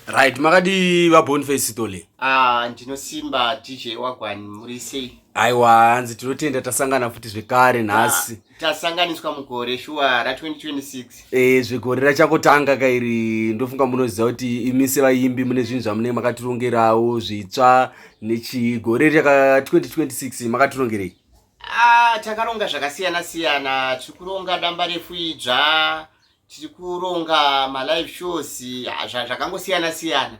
right makadii vabonface sitole ah, ndinosimba dj wagwani muri sei aiwa hanzi tinotenda tasangana futi zvekare nhasi tasanganiswa mugore shuwa ra2026 e eh, zvegore rachakotanga kairi ndofunga munoziva kuti imi sevaimbi mune zvinhu zvamunenge makatirongerawo zvitsva nechigore raka 2026 makatirongerei ah, takaronga zvakasiyana siyana tiri kuronga damba refu idzva tiri kuronga malive shows zvakangosiyana siyana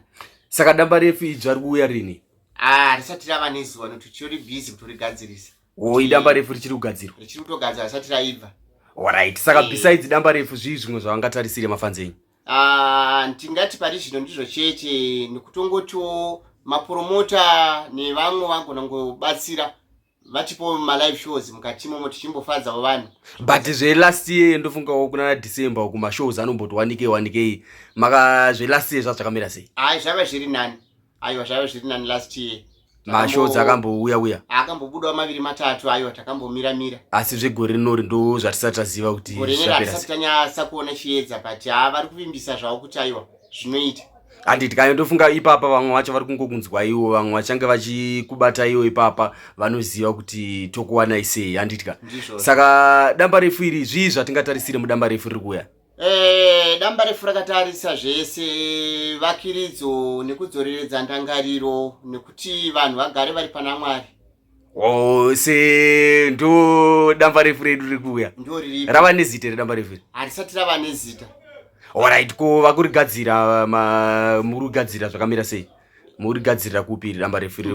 saka damba refu idzo ari kuuya rini ah, risati rava nezuva nokuti tichori busy kutorigadzirisa o idamba refu richiri kugadzirwa richiri kutogadzira risati raibva orit saka eh. besides damba refu zvii zvimwe zvavangatarisire mafanzi enyu ah, ndingati pari zvino ndizvo chete nekutongotiwo mapromota nevamwe vangona ngobatsira vatipo malive shows mukati momo tichimbofadzawo vanhu but zvelast year ndofungawo kunana december uku mashows anomboti wanike wanikei maka zvelast year zvaa zvakamira sei ai zvave zviri nani aiwa zvave zviri nani last year mashows akambouya uya akambobudawo maviri matatu aiwa takambomira mira asi zvegore rinori ndo zvatisati taziva kuti gorenera hatisati tanyasa kuona chiedza but haa vari kuvimbisa zvavo kuti aiwa zvinoita handi tikanyotofunga ipapa vamwe vacho vari kungokunzwaiwo vamwe vachange vachikubataiwo ipapa vanoziva kuti tokuwanai sei handitya saka damba refu iri zvii zvatingatarisire mudamba refu riri kuuya eh, damba refu rakatarisa zvese vakiridzo nekudzoreredza ndangariro nekuti vanhu vagare vari pana mwari ose ndo damba refu redu riri kuuya rava nezita iri damba refu iri harisati rava nezita orit ko vakurigadzira muri kugadzira zvakamira sei muri gadzirira kupi iri damba refu iri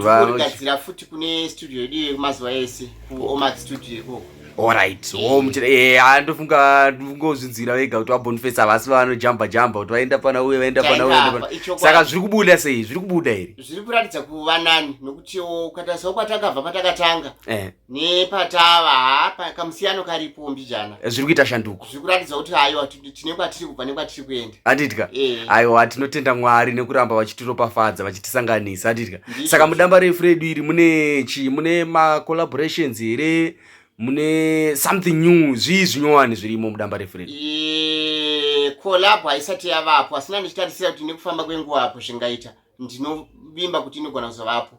futi kune studio yedu yemazuva ese kuomax studio ikoko Alright, oh muchira eh andofunga ndingozvinzwira vega kuti wabonfesa vasi vanojamba jamba kuti vaenda pana uye vaenda pana uye vaenda pana. Saka zviri kubuda sei? Zviri kubuda here? Zviri kuratidza kuva nani nokuti ukata soko kwatakabva patakatanga. Eh. Nepatava hapa kamusiyano karipo mbijana. Eh, zviri kuita shanduko. Zviri kuratidza kuti hayo tine kwatiri kubva nekwatiri kuenda adidya eh. aiwa tinotenda mwari nekuramba vachitiropafadza vachitisanganisa adidya saka mudamba refu redu iri mune chii mune macollaborations here mune something new zvii zvinyowani zvirimo mudamba refu redu eh, collabo haisati yavapo asina ndichitarisira kuti nekufamba kwenguva apo zvingaita ndinovimba kuti inogona kuzovapo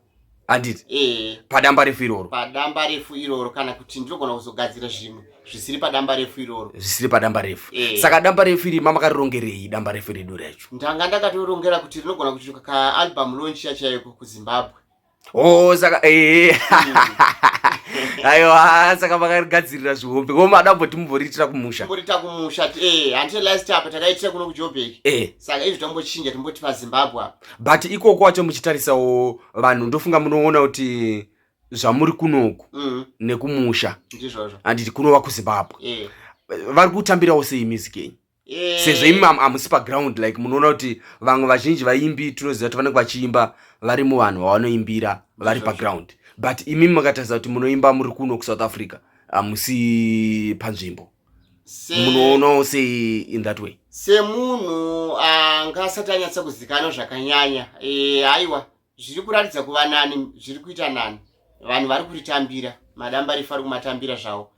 handiti eh. padamba refu iroro padamba refu iroro kana kuti ndinogona kuzogadzira zvimwe zvisiri padamba refu iroro zvisiri padamba refu eh. saka damba refu iri mamakarirongerei damba refu redu racho ndanga ndakatorongera kuti rinogona kuti kaalbum launch yachaiko kuzimbabwe o oh, saka ee hmm. aiwa saka makarigadzirira zvihombe ko mada mboti mumboriitira kumusha mborita kumusha e eh, handite last apa takaitira kuno kujobek e eh. saka izvi tombochinja timboti pazimbabwe apa but ikoko wacho muchitarisawo vanhu ndofunga munoona kuti zvamuri kunoku mm. nekumusha handiti kunova kuzimbabwe yeah. vari kutambirawo sei music yenyu yeah. sezvo imi hamusi paground like munoona kuti vamwe vazhinji vaimbi tinoziva kuti vanenge vachiimba vari muvanhu vavanoimbira vari paground but imi makatarisa kuti munoimba muri kuno kusouth africa hamusi panzvimbo munoonawo sei in that way semunhu anga asati anyatsa kuzikanwa zvakanyanya e, aiwa zviri kuratidza kuva nani zviri kuita nani vanhu vari kuritambira madamba rifu ari kumatambira zvavo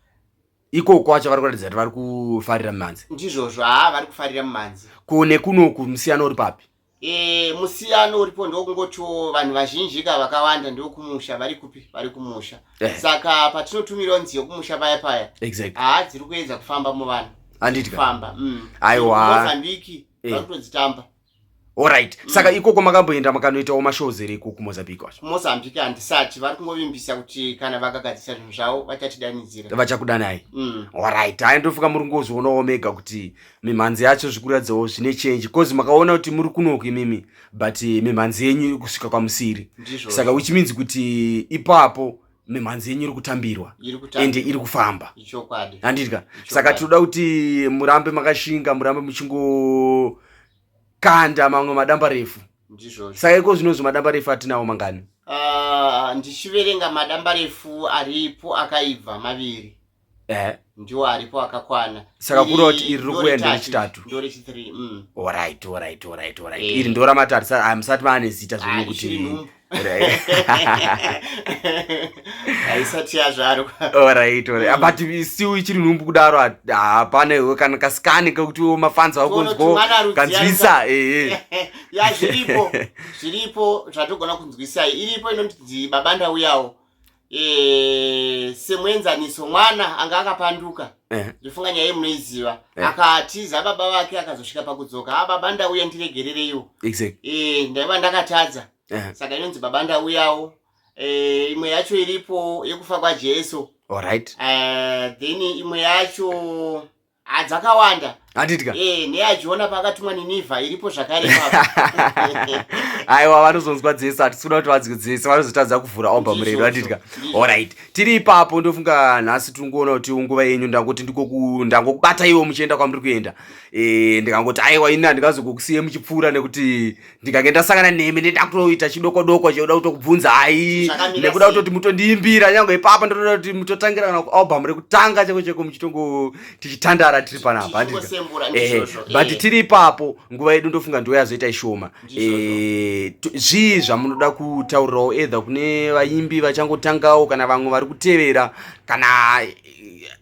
ikoko kwacho vari kuratidza kuti vari kufarira mumhanzi ndizvozvo haa vari kufarira mumhanzi ko nekunoku musiyana uri papi e, musiyano uripo ndokungotiwo vanhu vazhinji ka vakawanda ndokumusha vari kupi vari kumusha eh. saka patinotumirawo nziyo kumusha paya paya exactly. haa dziri kuedza kufamba muvanhu anditfamba mm. aiwamozambiki eh. vari kutodzitamba orit mm. saka ikoko makamboenda makanoitawo mashows here ikoko mozambique wacho mozambique handisati vari kungovimbisa kuti kana vakagadzisa zvinhu zvavo vachatidanidzira vachakudanai mm. orit haya ndofuka muri ngozvionawo mega kuti mimhanzi yacho zvikuratidzawo zvine change bcause makaona kuti muri kunoku imimi but eh, mimhanzi yenyu iri kusvika kwamusiri saka which means kuti ipapo mimhanzi yenyu iri kutambirwa ende iri kufamba handidya saka tinoda kuti murambe makashinga murambe muchingokanda mamwe madamba refu saka iko zvinozvo madamba refu atinawo mangani ah, ndichiverenga madamba refu aripo akaibva maviri eh ndiwo aripo akakwana saka kuroti iri rikuenda rechitatu ndo rechithree mm. orit orit orit orit eh. iri ndo ramatatu sa ah, musati maane zita zvino kuti haisati yazvarwa orit orit mm. but si uchiri nhumbu kudaro hapana iwe kana kasikani kekuti wo mafanzi vakunzwa kanzwisa ee ya zviripo zviripo zvatogona kunzwisai iripo inonzi baba ndauyawo Eh, semuenzaniso mwana anga akapanduka eh. ndofunga nyaya yemunoiziva eh. akatiza baba vake akazosvika pakudzoka a ah, baba ndauya ndiregerereiwo eh, ndaiva ndakatadza saka inonzi baba ndauyawo imwe yacho iripo yekufa kwajesu then imwe yacho Ah, dzakawanda handidya Eh, neyaJona paakatumwa Ninivha iripo zvakare ipapo. aiwa vanozonzwa dzese hatikuda kuti vanzwe dzese vanozotadza kuvhura omba Ndizvo, murero handidya ndizvo. orit tiri ipapo ndofunga nhasi tiri kuona kuti nguva yenyu ndangoti ndikoku- ndangokubata ivo muchienda kwamuri kuenda Eh, ndikangoti aiwa ini handingazokukusiyei muchipfuura nekuti ndikange ndasangana nemi ndoda kutoita chidokodoko chekuda kutokubvunzai nekuda kutoti mutondiimbira nyange ipapa ndotoda kuti mutotangira kana kualbum rekutanga chako cheko muchitongo tichitandara tiri panapa eh, but eh. tiri ipapo nguva yedu ndofunga ndiwo yazoita ishoma eh, zvii zvamunoda kutaurirawo edha kune vaimbi vachangotangawo kana vamwe vari kutevera kana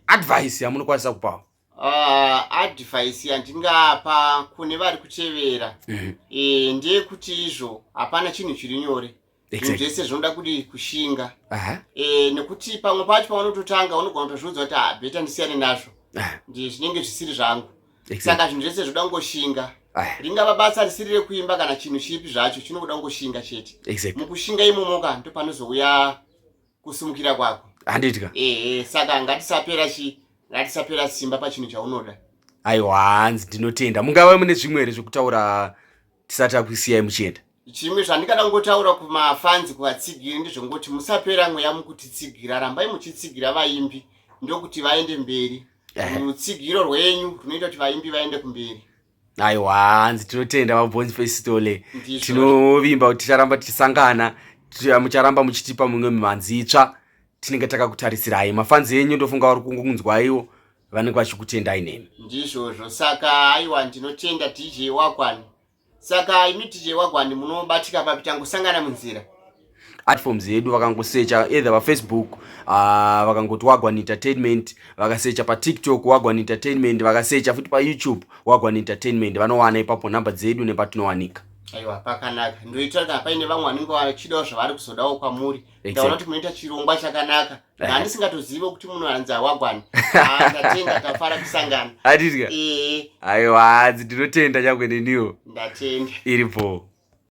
advice yamunokwanisa kupawo Uh, advice yandingapa kune vari kutevera mm -hmm. e, ndeyekuti izvo hapana chinhu chiri nyore zvinhu zvese zvinoda kuti kushinga uh -huh. e, nekuti pamwe pacho paunototanga unogona kutozviudza kuti habeta ah, ndisiyane nazvo uh -huh. ndi zvinenge zvisiri zvangu exactly. saka zvinhu zvese zvoda kungoshinga uh -huh. ringava basa risiri rekuimba kana chinhu chipi zvacho chinokuda kungoshinga chete exactly. mukushinga imomoka ndopanozouya kusimukira kwako handitya ehe saka ngatisapera chi ngatisapera simba pachinhu chaunoda aiwa hanzi ndinotenda mungava mune zvimwe here zvekutaura tisati akuisiyai muchienda chimwe zvandingada kungotaura kumafanzi kuvatsigiri ndezvongoti musapera mweya mukutitsigira rambai muchitsigira vaimbi ndokuti vaende mberi Ehe. rutsigiro rwenyu runoita kuti vaimbi vaende kumberi aiwa hanzi tinotenda vabonzi fesitole tinovimba kuti ticharamba tichisangana mucharamba muchitipa mumwe mimhanzi itsva tinenge takakutarisirayi mafanzi enyu ndofunga vari kungunzwaiwo vanenge vachikutendai nemi ndizvozvo saka aiwa ndinotenda dj wagwani saka imi dj wagwani munobatika papi tangosangana munzira platforms yedu vakangosecha either vafacebook uh, ah, vakangoti wagwan entertainment vakasecha patiktok wagwan entertainment vakasecha futi payoutube wagwan entertainment vanowana ipapo nhamba dzedu nepatinowanika aiwa pakanaka ndoitira kana paine vamwe vanenge vachidawo zvavari kuzodawo kwamuri ndaona kuti munoita chirongwa chakanaka eh. nani singatozive kuti munoanzi awagwani ah, ndatenda tafara kusangana atidya eh. aiwa hanzi ndinotenda chakweneniwo ndatenda iri bhoo